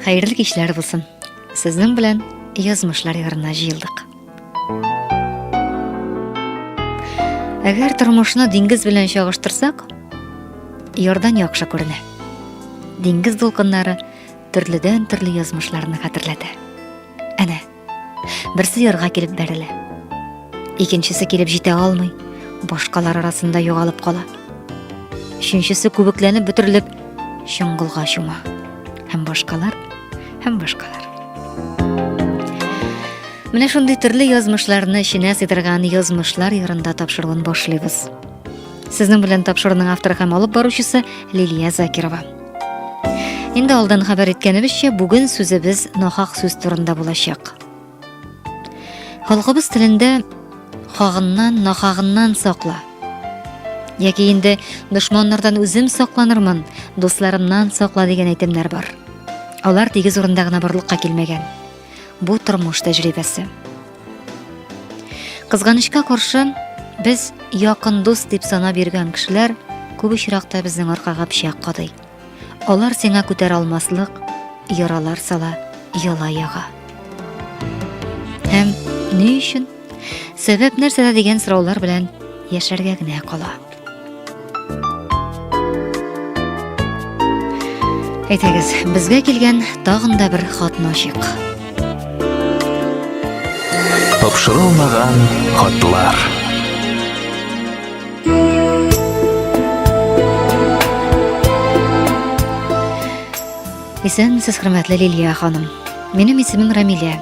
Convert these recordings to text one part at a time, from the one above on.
Хәерле кичләр булсын. Сезнең белән язмышлар ярына җыелдык. Әгәр тормышны диңгез белән чагыштырсак, ярдан яхшы күренә. Диңгез дулкыннары төрледән төрле язмышларны хәтерләтә. Әнә, Берсе ярга килеп бәрелә. Икенчесе килеп җитә алмый, башкалар арасында югалып кала. Өченчесе күбекләнеп бөтерелеп чоңгылга чума. Һәм башкалар, һәм башкалар. Менә шундый төрле язмышларны эченә сыйдырган язмышлар ярында тапшыруын башлыйбыз. Сезнең белән тапшыруның авторы һәм алып баручысы Лилия Закирова. Инде алдан хәбәр иткәнебезчә, бүген сүзебез нахак сүз турында булачак. Халкыбыз телендә хагыннан, нахагыннан сакла. Яки инде дошманнардан үзем сакланырмын, дусларымнан сакла дигән әйтемнәр бар. Алар тигез урында гына барлыкка килмәгән. Бу тормыш тәҗрибәсе. Кызганычка каршы, без якын дус дип санап йөргән кешеләр күп очракта безнең аркага пычак кадый. Алар сиңа күтәр алмаслык, яралар сала, яла яга. Һәм ни өчен? Сәбәп нәрсәдә дигән сораулар белән яшәргә генә кала. Әйтегез, безгә килгән тагын да бер хатны ачыйк. Тапшырылмаган хатлар. Исән сез хөрмәтле Лилия ханым. Минем исемем Рамилә.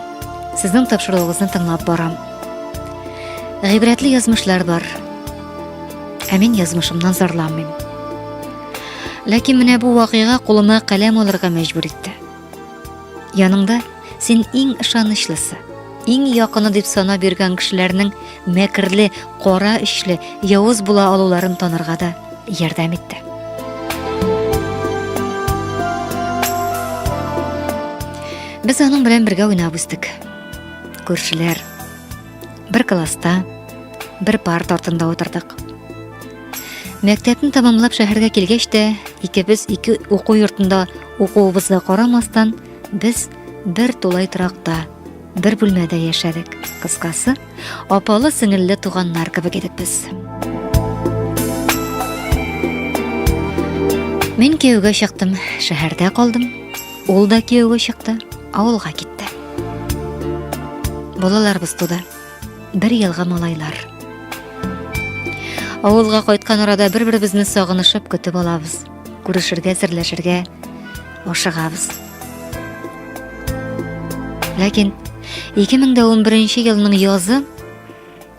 Сезнең тапшыруыгызны тыңлап барам. Гыйбрәтле язмышлар бар. Ә мин язмышымнан зарланмыйм. Ләкин менә бу вакыйга кулыма каләм алырга мәҗбүр итте. Яныңда син иң ышанычлысы, иң якыны дип сана биргән кешеләрнең мәкерле, кара эшле, явыз була алуларын танырга да ярдәм итте. Без аның белән бергә уйнап үстек. Күршеләр, Бер класста, бер парт артында утырдык. Мәктәпне тамамлап шәһәргә килгәч тә, икебез ике уку йортында укуыбызга карамастан, без бер тулай торакта, бер бүлмәдә яшәдек. Кыскасы, апалы сеңелле туганнар кебек идек без. Мин кияүгә чыктым, шәһәрдә калдым. Ул да киеве чыкты, авылга китте. Балаларыбыз туды. Бер елга малайлар. Авылга кайткан арада бер-беребезне сагынышып көтеп алабыз. Күрешергә, серләшергә ашыгабыз. Ләкин 2011 елның язы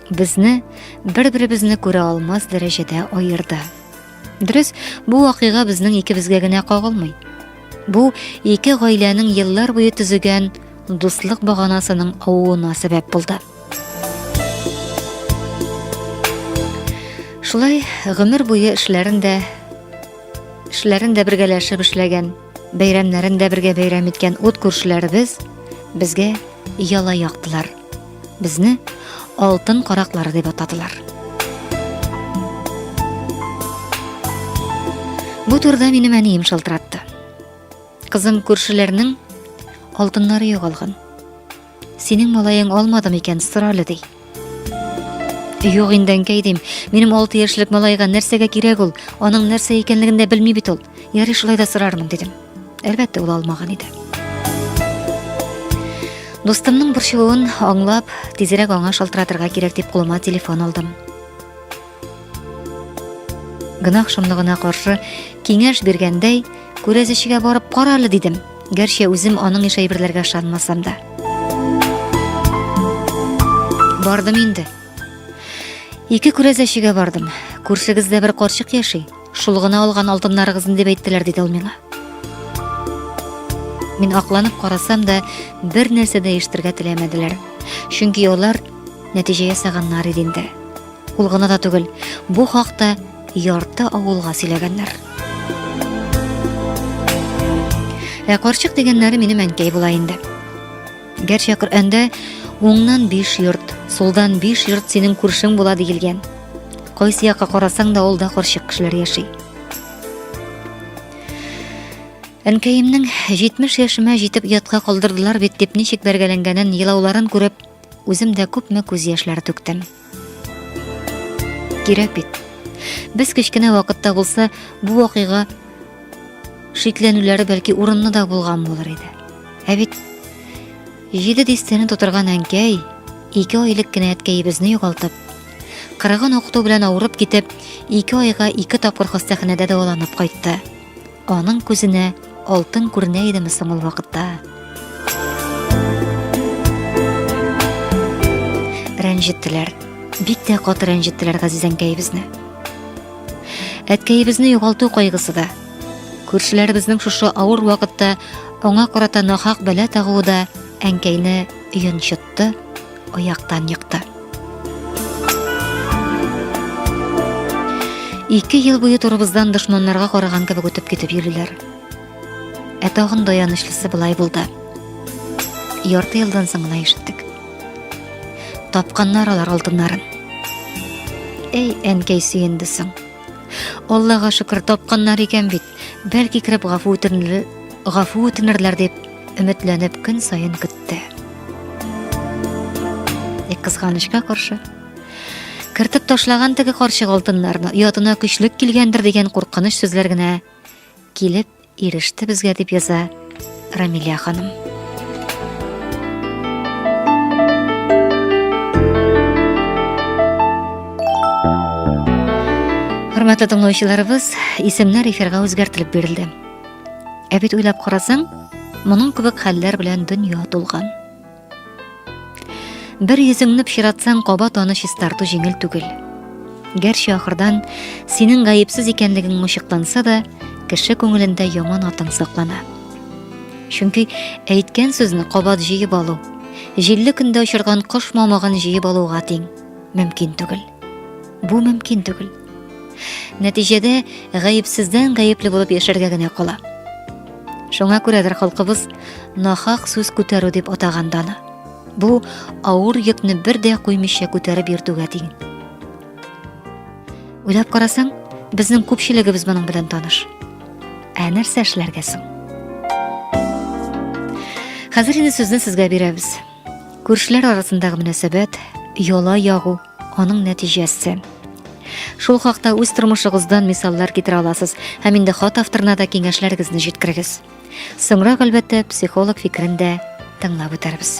безне бер-беребезне күрә алмас дәрәҗәдә аерды. Дөрес, бу вакыйга безнең икебезгә генә кагылмый. Бу ике гаиләнең еллар буе төзегән дуслык баганасының авуына сәбәп булды. Шулай гомер буе эшләрен дә эшләрен дә бергәләшеп эшләгән, бәйрәмнәрен дә бергә бәйрәм иткән ут күршеләребез безгә яла яктылар. Безне алтын караклары дип атадылар. Бу турыда минем әнием шалтыратты. Кызым күршеләрнең алтыннары югалган. Синең малаең алмады микән сорале ди. Юк инде әнкәй дим. Минем 6 яшьлек малайга нәрсәгә кирәк ул? Аның нәрсә икәнлеген дә белми бит ул. Ярый шулай да сорармын дидем. Әлбәттә, ул алмаган иде. Дустымның борчылуын аңлап, тизрәк аңа шалтыратырга кирәк дип кулыма телефон алдым. Гынах шомлыгына каршы киңәш биргәндәй, күрәзешегә барып кара әле дидем. Гәрчә үзем аның еш әйберләргә ышанмасам да. Бардым инде. Ике күрәзәчегә бардым. Күршегездә бер карчык яши. Шул гына алган алтыннарыгыз дип әйттеләр, диде ул миңа. Мин акланып карасам да, бер нәрсә дә ишетергә теләмәделәр. Чөнки алар нәтиҗә ясаганнар иде инде. Ул гына да түгел, бу хакта ярты авылга сөйләгәннәр. Ә карчык дигәннәре минем әнкәй була инде. Гәрчә Коръәндә уңнан биш йорт, сулдан биш йорт синең күршең була диелгән. Кайсы якка карасаң да ул да карчык кешеләр яши. Әнкәемнең 70 яшемә җитеп ятка калдырдылар бит дип ничек бәргәләнгәнен, елауларын күреп, үзем дә күпме күз яшьләре түктем. Кирәк бит. Без кечкенә вакытта булса, бу вакыйга шикләнүләре бәлки урынны да булган булыр иде. Ә бит җиде дистәне тутырган әнкәй, ике айлык кенә әткәебезне югалтып, кырыгын укыту белән авырып китеп, ике айга ике тапкыр хастаханәдә дәваланып кайтты. Аның күзенә алтын күренә идеме соң ул вакытта? Рәнҗеттеләр. Бик тә каты рәнҗеттеләр газизәнкәебезне. Әткәебезне югалту кайгысы да, күршеләребезнең шушы авыр вакытта аңа карата нахак бәла тагуы да әнкәйне йончытты. тотты, аяктан екты. Ике ел буе турыбыздан дошманнарга караган кебек үтеп китеп йөриләр. Ә тагын да янычлысы былай булды. Ярты елдан соң гына ишеттек. Тапканнар алар алтыннарын. Эй, әнкәй сөенде соң. Аллага шөкер, тапканнар икән бит. Бәлки кереп гафу үтенерләр, гафу үтенерләр дип өметләнеп көн саен көтте. Тик кызганычка каршы, кертеп ташлаган теге карчык алтыннарны оятына көчлек килгәндер дигән куркыныч сүзләр генә килеп иреште безгә дип яза Рамилия ханым. Хөрмәтле тыңлаучыларыбыз, исемнәр эфирга үзгәртелеп бирелде. Ә бит уйлап карасаң, моның кебек хәлләр белән дөнья тулган. Бер йөзеңне пычратсаң, каба таны чистарту җиңел түгел. Гәрчә ахырдан синең гаепсез икәнлегең ачыкланса да, кеше күңелендә яман атың саклана. Чөнки әйткән сүзне кабат җыеп алу, җилле көндә очырган кош мамыгын җыеп алуга тиң, мөмкин түгел. Бу мөмкин түгел. нәтиҗәдә гаепсездән гаепле булып яшәргә генә кала шуңа күрәдер халкыбыз нахак сүз күтәрү дип атаган даны бу авыр йөкне бер дә куймыйча күтәреп йөртүгә тиң уйлап карасаң безнең күпчелегебез моның белән таныш ә нәрсә эшләргә соң хәзер инде сүзне сезгә бирәбез Күршеләр арасындагы мөнәсәбәт, яла ягу, аның нәтиҗәсе. Шул хакта үз тормышыгыздан мисаллар китерә аласыз һәм инде хат авторына да киңәшләрегезне җиткерегез. Соңрак, әлбәттә, психолог фикерен дә тыңлап үтәрбез.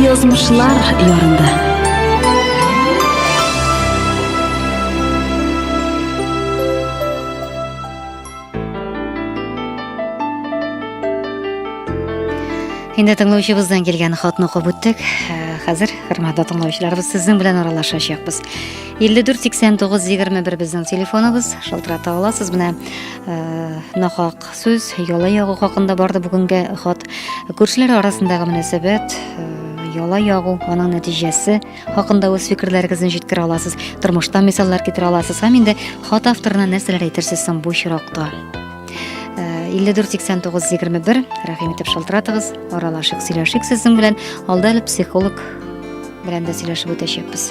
Язмышлар ярында. Инде тыңлаучыбыздан килгән хатны укып үттек. Э, Хәзер, хөрмәтле тыңлаучыларыбыз, сезнең белән аралашачакбыз. 54 89 21 безнең телефоныбыз шалтырата аласыз менә э, нахак сүз яла ягу хакында барды бүгенге хат күршеләр арасындагы мөнәсәбәт э, яла ягу аның нәтиҗәсе хакында үз фикерләрегезне җиткерә аласыз тормыштан мисаллар китерә аласыз һәм инде хат авторына нәрсәләр әйтерсез соң бу очракта 54 89 21 рәхим итеп шалтыратыгыз аралашык сөйләшик сезнең белән алда әле психолог белән дә сөйләшеп үтәчәкбез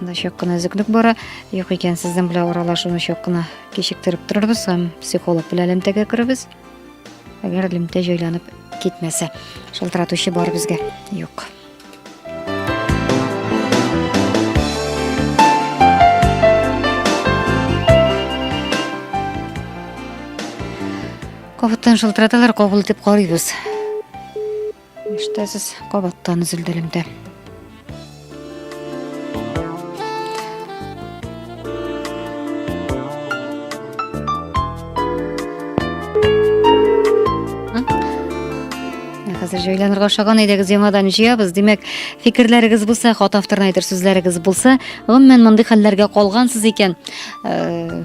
Анда чак кына өзеклек бара. Юк икән, сезнең белән аралашуны чак кына кичектереп торырбыз һәм психолог белән элемтәгә керебез. Әгәр элемтә җайланып китмәсә, шалтыратучы бар безгә. Юк. Кабыттан шалтыраталар, кабул итеп карыйбыз. Ишетәсез, кабаттан өзелде элемтә. Хәзер җайланырга ошаган идегез, яңадан җыябыз. Димәк, фикерләрегез булса, хат авторына әйтер сүзләрегез булса, гомумән мондый хәлләргә калгансыз икән, э,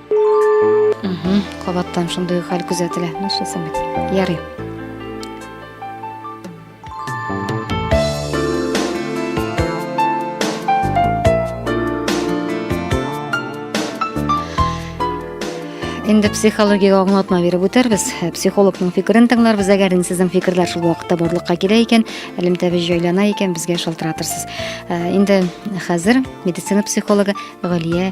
Кабаттан шундый ук хәл күзәтелә. Ну, что самит? Ярый. Инде психология аңлатма биреп үтәрбез. Э, психологның фикерен тыңларбыз, әгәр инде сезнең фикерләр шул вакытта барлыкка килә икән, элемтәбез җайлана икән, безгә шалтыратырсыз. Э, инде хәзер медицина психологы Галия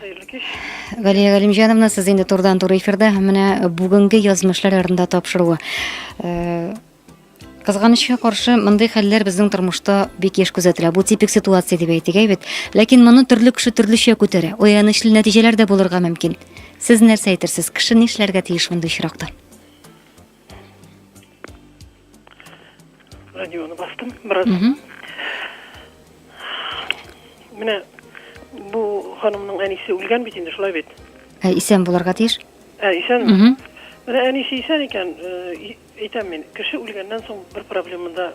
Хәерле кич. Галия Галимҗановна, сез инде турдан туры эфирда менә бүгенге язмышлар ярында тапшыруы. Э, Кызганычка каршы, мондый хәлләр безнең тормышта бик еш күзәтелә. Бу типик ситуация дип әйтик, әйбәт. Ләкин моны төрле кеше төрлечә күтәрә. Оянычлы нәтиҗәләр дә булырга мөмкин. Сез нәрсә әйтерсез, кеше нишләргә тиеш мондый очракта? радионы бастым бераз менә бу ханымның әнисе үлгән бит инде шулай бит ә исән булырга тиеш ә исән менә әнисе исән икән әйтәм мин кеше үлгәннән соң бер проблеманы да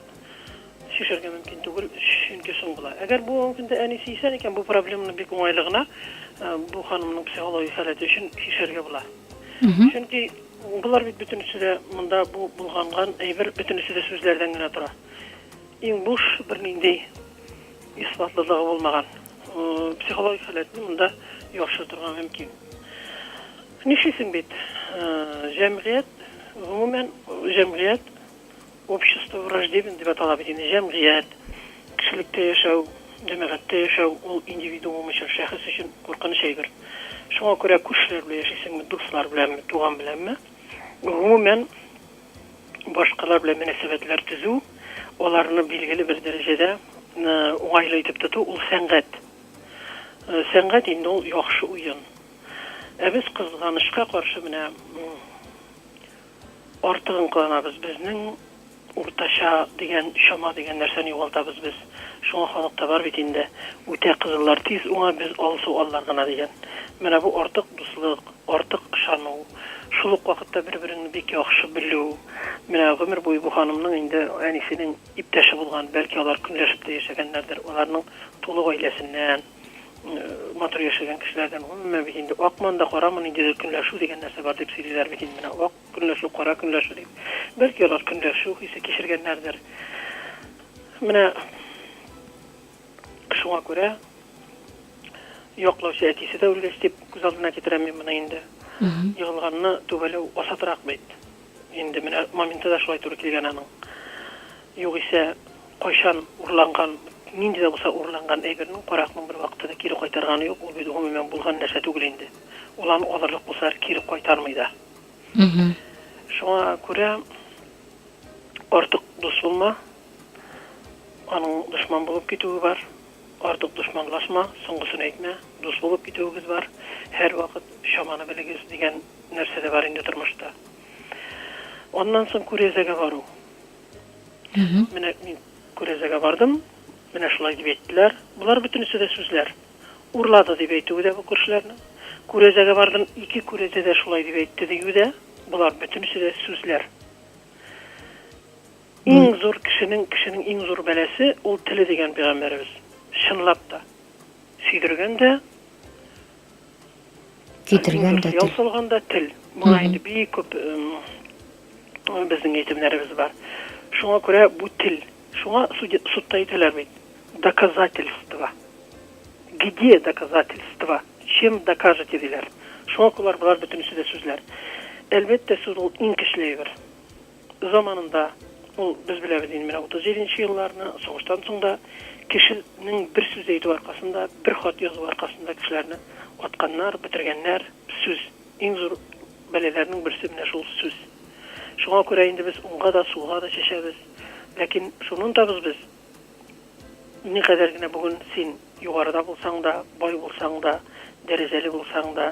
шешергә мөмкин түгел чөнки соң була әгәр бүгенге көндә әнисе исән икән бу проблеманы бик уңайлы гына бу ханымның психологик халәте өчен шешергә була чөнки Болар бит бөтенесе дә монда бу болганган әйбер бөтенесе дә сүзләрдән генә тора. Иң буш, бернинди исбатлылыгы булмаган психологик халәтне монда яхшы торган мөмкин. Нишлисең бит, җәмгыять, гомумән җәмгыять Общество враждебен дип атала бит инде, җәмгыять, кешелектә яшәү, җәмәгатьтә яшәү, ул индивидуум өчен, шәхес өчен куркыныч әйбер. Шуңа күрә күршеләр белән яшисеңме, дуслар беләнме, туган беләнме, гомумән, башкалар белән мөнәсәбәтләр төзү, аларны билгеле бер дәрәҗәдә уңайлы итеп тоту, ул сәнгать. Сәнгать инде ул яхшы уен. Ә без, кызганычка каршы, менә Артыгын кыланабыз. Безнең уртача дигән чама дигән нәрсәне югалтабыз без. Шуңа халыкта бар бит инде, Үтә кызыллар тиз уңа, без алсу аллар гына дигән. Менә бу артык дуслык, артык ышану, шул ук вакытта бер-береңне бик яхшы белү. Менә гомер буе бу ханымның инде әнисенең иптәше булган, бәлки алар көнләшеп тә яшәгәннәрдер, аларның тулы гаиләсеннән. матур яшәгән кешеләрдән гомумән бит инде акман да карамын ниндидер көнләшү дигән нәрсә бар дип сөйлиләр бит инде менә ак көнләшү кара көнләшү дип бәлки алар көнләшү хисе кичергәннәрдер менә шуңа күрә яклаучы әтисе дә үлгәч дип күз алдына китерәм мин моны инде егылганны түбәләү асатрак бит инде менә моменты да шулай туры килгән аның югыйсә Кайчан урланган, нинди дә булса урланган әйбернең, каракның бервакытта да кире кайтарганы юк, ул бит гомумән булган нәрсә түгел инде. Ул аны алырлык булсалар кире кайтармый да. Шуңа күрә артык дус булма, аның дошман булып китүе бар, артык дошманлашма, соңгысын әйтмә, дус булып китүегез бар, һәрвакыт чаманы белегез дигән нәрсә дә бар инде тормышта. Аннан соң күрәзәгә бару. Менә мин күрәзәгә бардым, менә шулай дип әйттеләр. Болар бөтенесе дә сүзләр. Урлады дип әйтүе дә бу күршеләрнең. Күрәзәгә бардым, ике күрәзә дә шулай дип әйтте диюе дә, болар бөтенесе дә сүзләр. Иң зур кешенең, кешенең иң зур бәласе ул теле дигән пәйгамбәребез. Чынлап та, сөйдергән дә, Көйдергән дә тел. Яусалган да тел. Моңа инде бик күп безнең әйтемнәребез бар. Шуңа күрә бу тел. Шуңа судта әйтәләр бит. Доказательство. Где доказательство? Чем докажете диләр. Шуңа күрә болар бөтенесе дә сүзләр. Әлбәттә, сүз ул иң көчле әйбер. Заманында, ул, без беләбез инде менә 37 нче елларны, сугыштан соң да, кешенең бер сүз әйтүе аркасында, бер хат язуы аркасында кешеләрне атканнар, бетергәннәр, сүз. Иң зур бәлаләрнең берсе менә шул сүз. Шуңа күрә инде без уңга да, сулга да чәчәбез. Ләкин шуны онтабыз без, никадәр генә бүген син югарыда булсаң да, бай булсаң да, дәрәҗәле булсаң да,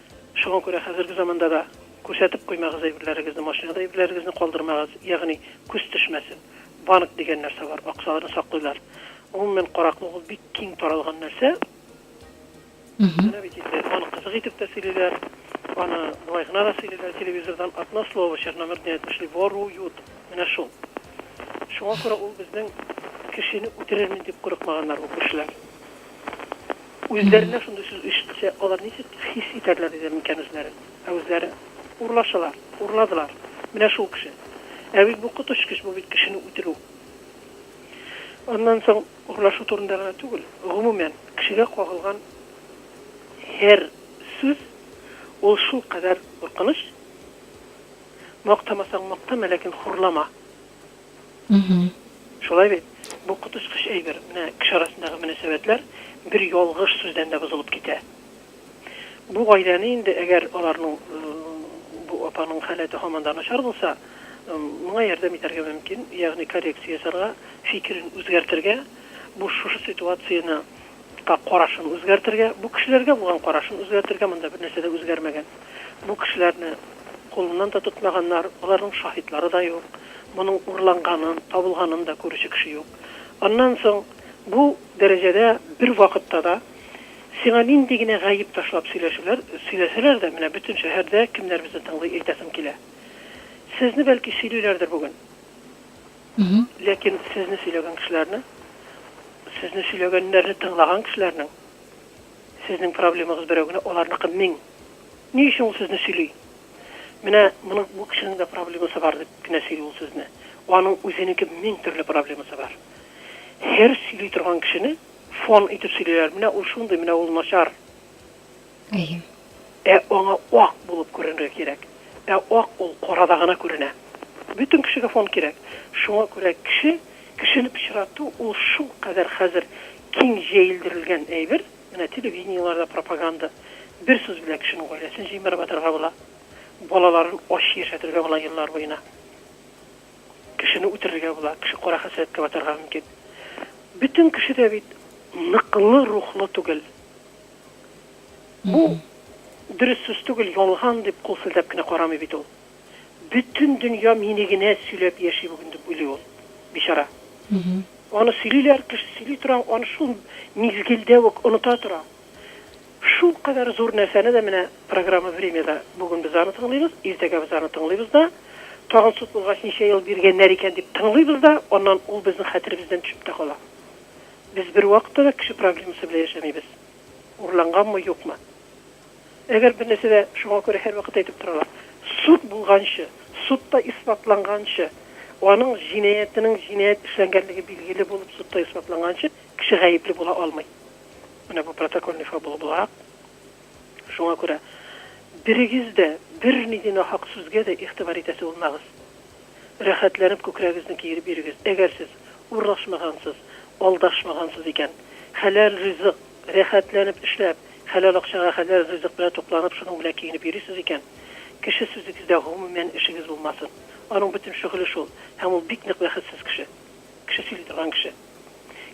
Шуңа күрә хәзерге заманда да күрсәтеп куймагыз әйберләрегезне, машинада әйберләрегезне калдырмагыз, ягъни күз төшмәсен. Банк дигән нәрсә бар, акчаларны саклыйлар. Гомумән, караклык ул бик киң таралган нәрсә. Менә бит инде аны кызык итеп тә сөйлиләр, аны болай гына да сөйлиләр, телевизордан одно слово, черномырдные отошли, воруют. Менә шул. Шуңа күрә ул безнең кешене үтерермен дип курыкмаганнар бу кешеләр. Үзләренә шундый сүз ишетсә, алар ничек хис итәрләр иде микән үзләрен? Ә үзләре, Урлаучылар! Урладылар! Менә шул кеше! Ә бит бу коточкыч, бу бит кешене үтерү! Аннан соң, урлашу турында гына түгел, гомумән, кешегә кагылган һәр сүз, ул шулкадәр куркыныч, мактамасаң мактама, ләкин хурлама! Мгм. Шулай бит? Бу коточкыч әйбер, менә кеше арасындагы мөнәсәбәтләр бер ялгыш сүздән дә бозылып китә. Бу гаиләне инде, әгәр аларның, бу апаның халәте һаман да начар булса, моңа ярдәм итәргә мөмкин, ягъни коррекция ясарга, фикерен үзгәртергә, бу шушы ситуацияне, ка карашын үзгәртергә, бу кешеләргә булган карашын үзгәртергә, монда бернәрсә дә үзгәрмәгән. Бу кешеләрне кулыннан да тотмаганнар, аларның шаһитлары да юк, моның урланганын, табылганын да күрүче кеше юк. Аннан соң, бу дәрәҗәдә бер вакытта да сиңа нинди генә гаеп ташлап сөйләшүләр, сөйләсәләр дә, менә бөтен шәһәрдә кемнәр безне тыңлый, әйтәсем килә. Сезне, бәлки, сөйлиләрдер бүген. Ләкин сезне сөйләгән кешеләрне, сезне сөйләгәннәрне тыңлаган кешеләрнең Сезнең проблемагыз берәү генә, аларныкы мең. Ни өчен ул сезне сөйли? Менә моның, бу кешенең дә проблемасы бар, дип кенә сөйли ул сезне. Аның үзенеке мең төрле проблемасы бар. Һәр сөйли торган кешене фон итеп сөйлиләр, менә ул шундый, менә ул начар. Әйе. Ә аңа ак булып күренергә кирәк. Ә ак ул карада гына күренә. Бөтен кешегә фон кирәк. Шуңа күрә кеше, кешене пычрату ул шулкадәр хәзер Киң җәелдерелгән әйбер, менә телевидениеларда пропаганда. Бер сүз белән кешенең гаиләсен җимереп атарга була, балаларын ач яшәтергә була еллар буена. Кешене үтерергә була, кеше кара хәсрәткә батарга мөмкин. Бөтен кеше дә бит ныклы рухлы түгел. Бу дөрес сүз түгел, ялган дип кул селтәп кенә карамый бит ул. Бөтен дөнья мине генә сөйләп яши бүген, дип уйлый ул, бичара. Аны сөйлиләр, кеше сөйли тора, аны шул мизгелдә үк оныта тора. Шулкадәр зур нәрсәне дә менә программа Время да бүген без аны тыңлыйбыз, иртәгә без аны тыңлыйбыз да, тагын суд булгач ничә ел биргәннәр икән дип тыңлыйбыз да, аннан ул безнең хәтеребездән төшеп тә кала. Без бервакытта да кеше проблемасы белән яшәмибез. Урланганмы, юкмы. Әгәр бер нәрсә дә, шуңа күрә һәрвакыт әйтеп торалар, суд булганчы, судта исбатланганчы, аның җинаятенең җинаять эшләнгәнлеге билгеле булып судта исбатланганчы, кеше гаепле була алмый. Менә бу протокольный фабула буларак. Шуңа күрә берегез дә бернинди нахак сүзгә дә игътибар итәсе булмагыз. Рәхәтләнеп күкрәгегезне киереп йөрегез. Әгәр сез урлашмагансыз, алдашмагансыз икән, хәләл ризык, Рәхәтләнеп эшләп, хәләл акчага хәләл ризык белән тукланып, шуның белән киенеп йөрисез икән, кеше сүзегездә гомумән эшегез булмасын. Аның бөтен шөгыле шул, һәм ул бик нык бәхетсез кеше. Кеше сөйли торган кеше.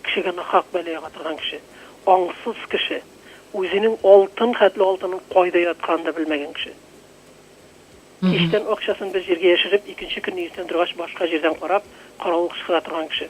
Кешегә нахак бәла яга торган кеше. Аңсыз кеше. Үзенең алтын хәтле алтынын кайда ятканын да белмәгән кеше. Кичтән акчасын бер җиргә яшереп, икенче көнне иртән торгач башка җирдән карап, каравыл кычкыра торган кеше.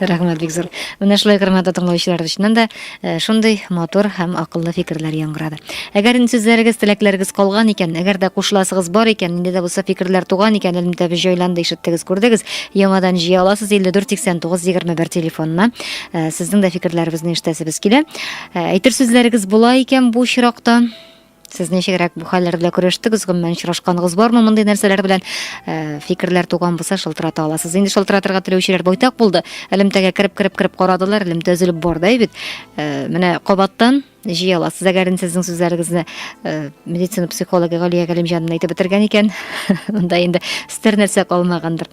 Рәхмәт бик зур. Менә шулай хөрмәтле тыңлаучылар өчен дә э, шундый матур һәм акыллы фикерләр яңгырады. Әгәр инде сүзләрегез, теләкләрегез калган икән, әгәр дә кушыласыгыз бар икән, инде дә булса фикерләр туган икән, элемтә без җайланды, ишеттегез, күрдегез, яңадан җыя аласыз 548921 телефонына. Э, сезнең дә фикерләрегезне ишетәсебез килә. Э, әйтер сүзләрегез була икән бу чиракта. Сез ничегрәк бу хәлләр белән көрәштегез, гомумән очрашканыгыз бармы мондый нәрсәләр белән? Э, фикерләр туган булса, шалтырата аласыз. Инде шалтыратырга теләүчеләр байтак булды. Элемтәгә кереп, кереп, кереп карадылар, элемтә өзелеп барды бит. Э, менә кабаттан җыя аласыз. Әгәр инде сезнең сүзләрегезне э, медицина психологы Галия Галимҗанова әйтеп бетергән икән, анда инде стер нәрсә калмагандыр.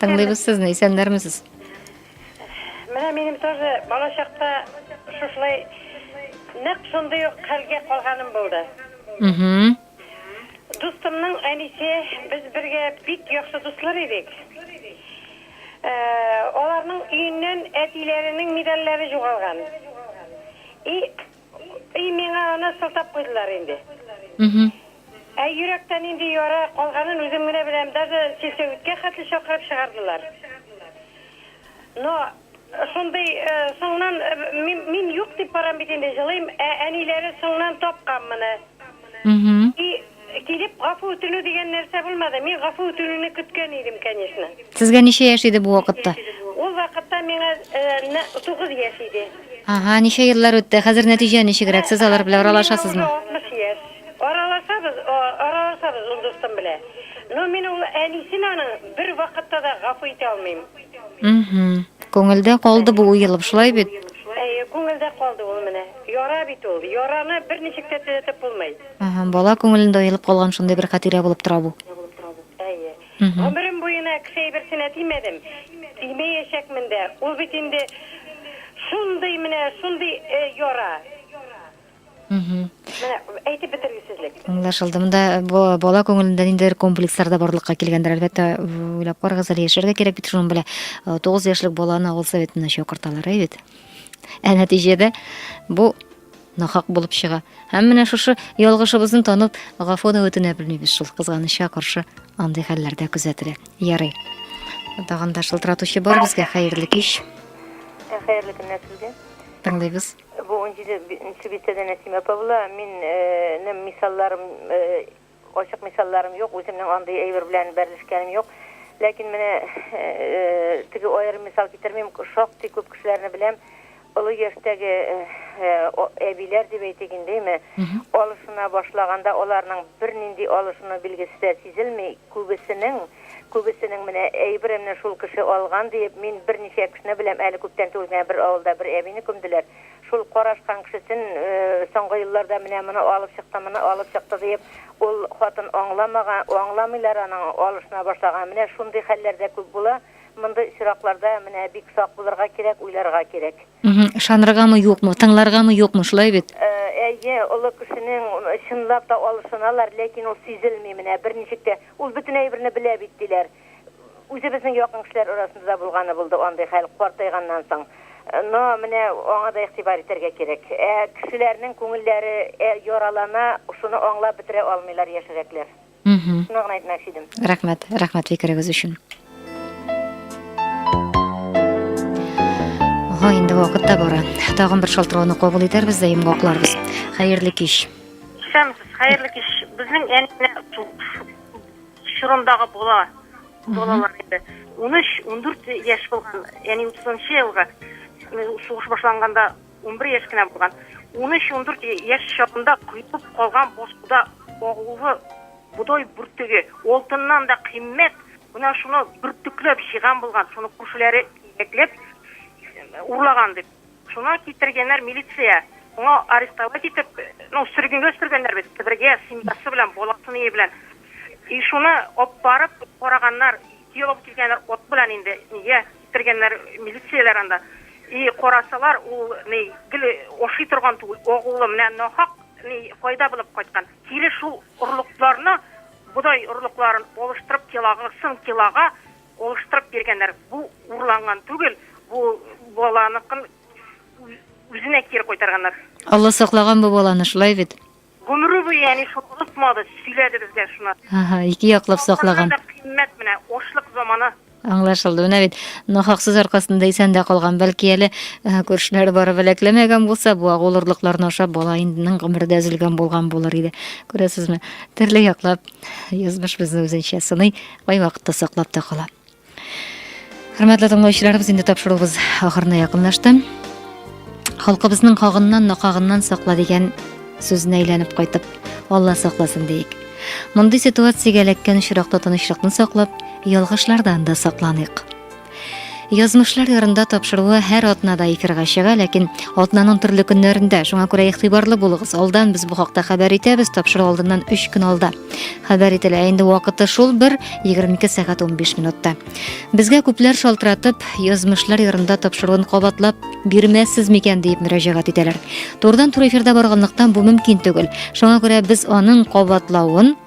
Тыңлыйбыз сезне, исәннәрмесез? Менә минем тоже бала чакта шушылай нәкъ шундый ук хәлгә калганым булды. Угу. Дустымның әнисе, без бергә бик яхшы дуслар идек. Э, аларның өеннән әтиләренең медальләре югалган. И И, миңа аны сылтап куйдылар инде. Мхм. Ә йөрәктә нинди яра калганын үзем генә беләм, даже сельсоветка хәтле чакырып чыгардылар. Но шундый соңнан, мин юк дип барам бит инде, җылыйм, ә әниләре соңнан тапкан моны. И, килеп гафу үтенү дигән нәрсә булмады. Мин гафу үтенүне көткән идем, конечно. Сезгә ничә яшь иде бу вакытта? Ул вакытта миңа э, тугыз яшь иде. Ага, ничә еллар үтте? Хәзер нәтиҗә ничегрәк? Сез алар белән аралашасызмы? 60 яшь. Аралашабыз, аралашабыз ул дустым белән. Но мин ул әнисен аның бер вакытта да гафу итә алмыйм. Угу. Күңелдә калды бу уелып, шулай бит? Әйе, күңелдә калды ул менә. Яра бит ул. Яраны берничек тә төзәтеп булмый. Әһә, бала күңелендә уелып калган шундый бер хатирә булып тора бу. Әйе. Гомерем буена кеше әйберсенә тимәдем, тимәячәкмен дә. Ул бит инде шундый менә, шундый яра. Менә әйтеп бетергесезлек. Аңлашылды. Монда бала күңелендә ниндидер комплекслар да барлыкка килгәндер, әлбәттә. Уйлап карагыз әле, яшәргә кирәк бит шуның белән. Тугыз яшьлек баланы авыл советына чакырталар, әйе бит? Ә нәтиҗәдә бу нахак булып чыга. Һәм менә шушы ялгышыбызны танып, гафу да үтенә белмибез шул кызганычка каршы андый хәлләрдә күзәтелә. Ярый. Тагын да шылтыратучы бар безгә. Хәерле кич. Ә, хәерле көннәр сезгә. Тыңлыйбыз. Бу 17 нче бистәдә Нәсимә апа була. Мин э, нем мисалларым э, Ачык мисалларым юк, үземнең андый әйбер белән бәрелешкәнем юк. Ләкин менә теге аерым мисал китермим, шактый күп кешеләрне беләм, олы яшьтәге әбиләр дип әйтик инде, әйме, алышына башлаганда аларның бернинди алышыну билгесе дә сизелми, күбесенең, күбесенең менә әйберемне шул кеше алган диеп, мин берничә кешене беләм, әле күптән түгел генә бер авылда бер әбине күмделәр. Шул карашкан кешесен соңгы елларда менә моны алып чыкты, моны алып чыкты диеп, ул хатын аңламага, аңламыйлар аның алышына башлаган. Менә шундый хәлләр дә күп була. Мондый очракларда менә бик сак булырга кирәк, уйларга кирәк. Мгм. Ышаныргамы, юкмы, тыңларгамы, юкмы, шулай бит? Әйе, олы кешенең чынлап та алышыналар, ләкин ул сизелми менә, берничек тә. Ул бөтен әйберне белә бит, диләр. Үзебезнең якын кешеләр арасында да булганы булды андый хәл, картайганнан соң. Но менә аңа да игътибар итәргә кирәк. Ә кешеләрнең күңелләре ә яралана, шуны аңлап бетерә алмыйлар яшьрәкләр. Мхм. Шуны гына әйтмәкче идем. Рәхмәт, рәхмәт фикерегез өчен. Ага, инде вакыт та бара. Тагын бер шалтырауны кабул итәрбез дә йомгакларбыз. Хәерле кич. Исәнмесез, хәерле кич. Безнең әнине чорындагы бала балалар инде унөч ундүрт яшь булган яни утызынчы елгы сугыш башланганда унбер яшь кенә булган унөч ундүрт яшь чагында коелып калган бозкуда агулы бодай бөртеге алтыннан да кыйммәт менә шуны бөртекләп җыйган булган шуны күршеләре җитәкләп урлаган дип Шуна китергәннәр милиция. Моңа арестовать итеп, ну, сөргенгә сөргәннәр бит, Себергә, семьясы белән, баласыныя белән. И шуны оп барып, караганнар, ике ел алып килгәннәр от белән инде, нигә китергәннәр милицияләр анда. И карасалар, ул ни, гел ашый торган түгел, агулы, менә нахак ни, файда белеп кайткан. Кире шул орлыкларны, бодай орлыкларын алыштырып, килагысын килага, Алыштырып биргәннәр. Бу урланган түгел, бу баланыкын үзенә кире кайтарганнар. Алла саклаган бу баланы, шулай бит? Гомере буе әни шуны онытмады, сөйләде безгә шуны. Ага, ике яклап саклаган. Саклаган да кыйммәт менә, ачлык заманы. Аңлашылды. Менә бит, нахаксыз аркасында исән дә калган. Бәлки әле күршеләре барып беләкләмәгән булса, бу агул орлыкларны ашап, баланың гомере дә өзелгән булган булыр иде. Күрәсезме, төрле яклап язмыш безне үзенчә сыный. Кай вакытта саклап та кала. Хөрмәтле тыңлаучыларыбыз, инде тапшыруыбыз ахырына якынлашты. Халкыбызның хагыннан, накагыннан сакла дигән сүзенә әйләнеп кайтып, Алла сакласын диик. Мондый ситуациягә эләккән очракта тынычлыкны саклап, ялгышлардан да сакланыйк. Язмышлар ярында тапшыруы һәр атнада эфирга чыга, ләкин атнаның төрле көннәрендә. Шуңа күрә игътибарлы булыгыз. Алдан без бу хакта хәбәр итәбез, тапшыру алдыннан 3 көн алда. Хәбәр ителә. Инде вакыты шул бер 22 сәгать 15 минутта. Безгә күпләр шалтыратып, язмышлар ярында тапшыруын кабатлап бирмәссез микән дип мөрәҗәгать итәләр. Турдан-тур эфирда барганлыктан бу мөмкин түгел. Шуңа күрә без аның кабатлавын